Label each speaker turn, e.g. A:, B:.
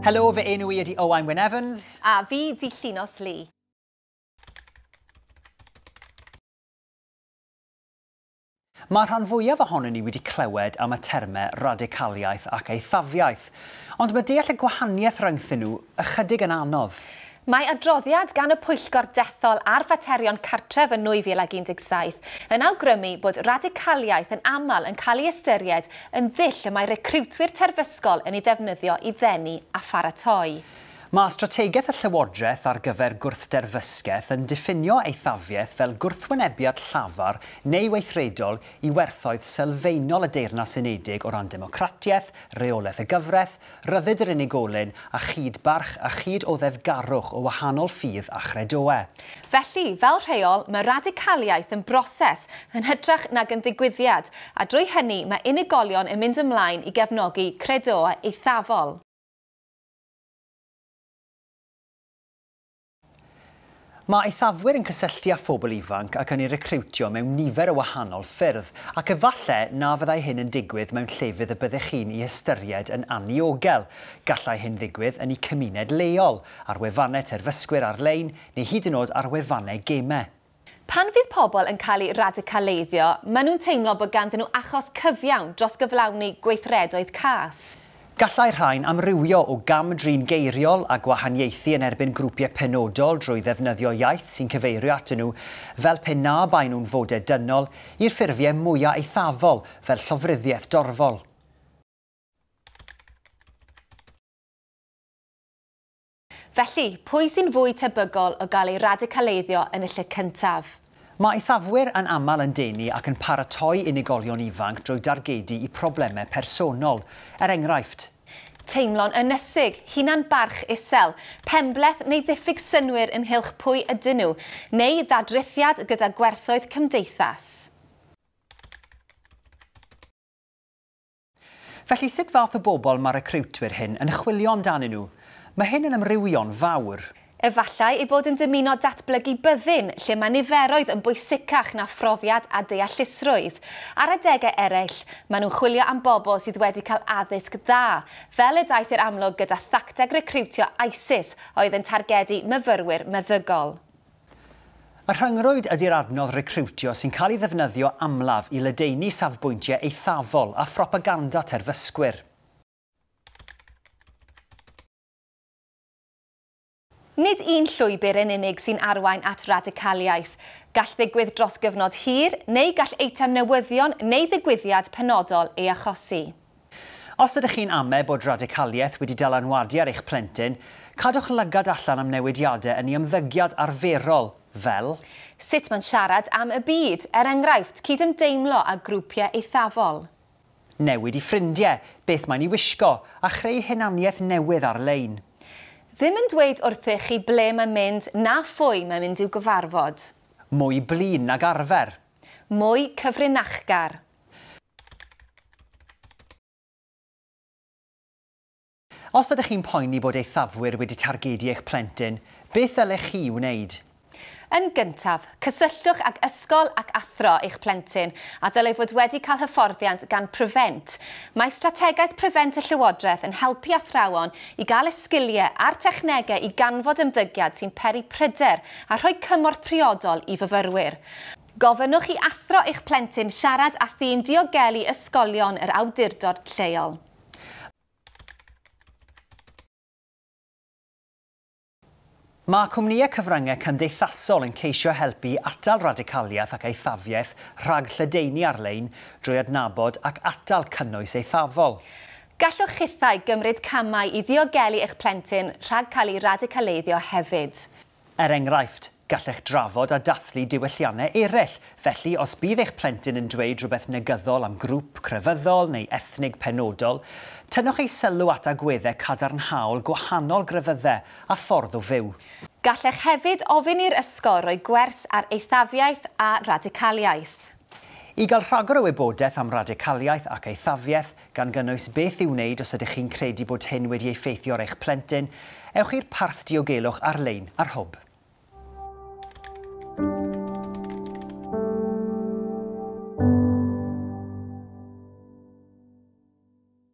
A: Helo, fy enw i ydi Owain Wyn Evans. A fi di Llinos Lee. Mae'r rhan fwyaf ohonyn ni wedi clywed am y termau radicaliaeth ac eithafiaeth, ond mae deall y gwahaniaeth rhyngthyn nhw ychydig yn anodd. Mae adroddiad gan y Pwyllgor Dethol ar Faterion Cartref yn 2017 yn awgrymu bod radicaliaeth yn aml yn cael ei ystyried yn ddull y mae recriwtwyr terfysgol yn ei ddefnyddio i ddenu a pharatoi Mae strategaeth y Llywodraeth ar gyfer gwrthderfysgeth yn diffinio eithafiaeth fel gwrthwynebiad llafar neu weithredol i werthoedd sylfaenol y Deyrnas Unedig o ran democratiaeth, rheolaeth y gyfraith, rhyddid yr unigolyn a chyd-barch a chyd-oddefgarwch o wahanol ffydd a chredoau. Felly, fel rheol, mae radicaliaeth yn broses yn hytrach nag yn ddigwyddiad, a drwy hynny mae unigolion yn mynd ymlaen i gefnogi credoau eithafol. Mae eithafwyr yn cysylltu â phobl ifanc ac yn eu recriwtio mewn nifer o wahanol ffyrdd, ac efallai na fyddai hyn yn digwydd mewn llefydd y byddech chi'n eu hystyried yn anniogel. Gallai hyn ddigwydd yn eu cymuned leol, ar wefannau terfysgwyr ar-lein, neu hyd yn oed ar wefannau gemau. Pan fydd pobl yn cael eu radicaleiddio, maen nhw'n teimlo bod ganddyn nhw achos cyfiawn dros gyflawni gweithredoedd cas. Gallai'r rhain amrywio o gam-drin geiriol a gwahaniaethu yn erbyn grwpiau penodol drwy ddefnyddio iaith sy'n cyfeirio atyn nhw fel pe na baen nhw'n fodau dynol, i'r ffurfiau mwyaf eithafol fel llofruddiaeth dorfol. Felly, pwy sy'n fwy tebygol o gael ei radicaleiddio yn y lle cyntaf? Mae eithafwyr yn aml yn denu ac yn paratoi unigolion ifanc drwy dargedu i problemau personol, er enghraifft. Teimlo'n ynysig, hunan-barch isel, penbleth neu ddiffyg synnwyr ynghylch pwy ydyn nhw, neu ddadrithiad gyda gwerthoedd cymdeithas. Felly, sut fath o bobl mae recriwtwyr hyn yn chwilio amdanyn nhw? Mae hyn yn amrywio'n fawr. Efallai eu bod yn dymuno datblygu byddin lle mae niferoedd yn bwysicach na phrofiad a deallusrwydd. Ar adegau eraill, maen nhw'n chwilio am bobl sydd wedi cael addysg dda, fel y daeth i'r amlwg gyda thacteg recriwtio ISIS a oedd yn targedu myfyrwyr meddygol. Y rhyngrwyd ydy'r adnodd recriwtio sy'n cael ei ddefnyddio amlaf i ledaenu safbwyntiau eithafol a phropaganda terfysgwyr. Nid un llwybr yn unig sy'n arwain at radicaliaeth. Gall ddigwydd dros gyfnod hir, neu gall eitem newyddion neu ddigwyddiad penodol ei achosi. Os ydych chi'n ame bod radicaliaeth wedi dylanwadu ar eich plentyn, cadwch lygad allan am newidiadau yn ei ymddygiad arferol, fel. Sut mae'n siarad am y byd, er enghraifft, cydymdeimlo â grwpiau eithafol. Newid i ffrindiau, beth mae'n ei wisgo, a chreu hunaniaeth newydd ar-lein. Ddim yn dweud wrthych chi ble mae'n mynd na phwy mae'n mynd i'w gyfarfod. Mwy blin nag arfer. Mwy cyfrinachgar. Os ydych chi'n poeni bod eithafwyr wedi targedu eich plentyn, beth ddylech chi wneud? Yn gyntaf, cysylltwch ag ysgol ac athro eich plentyn a ddylai fod wedi cael hyfforddiant gan Prevent. Mae strategaeth Prevent y Llywodraeth yn helpu athrawon i gael y sgiliau a'r technegau i ganfod ymddygiad sy'n peri pryder a rhoi cymorth priodol i fyfyrwyr. Gofynnwch i athro eich plentyn siarad â thîm diogelu ysgolion yr awdurdod lleol. Mae cwmnïau cyfryngau cymdeithasol yn ceisio helpu i atal radicaliaeth ac eithafiaeth rhag lledaenu ar-lein drwy adnabod ac atal cynnwys eithafol. Gallwch chithau gymryd camau i ddiogelu eich plentyn rhag cael ei radicaleiddio hefyd. Er enghraifft, gallech drafod a dathlu diwylliannau eraill, felly os bydd eich plentyn yn dweud rhywbeth negyddol am grŵp crefyddol neu ethnig penodol, tynnwch ei sylw at agweddau cadarnhaol gwahanol grefyddau a ffordd o fyw. Gallech hefyd ofyn i'r ysgol roi gwers ar eithafiaeth a radicaliaeth. I gael rhagor o wybodaeth am radicaliaeth ac eithafiaeth, gan gynnwys beth i'w wneud os ydych chi'n credu bod hyn wedi effeithio ar eich plentyn, ewch i'r parth diogelwch ar-lein ar Hwb.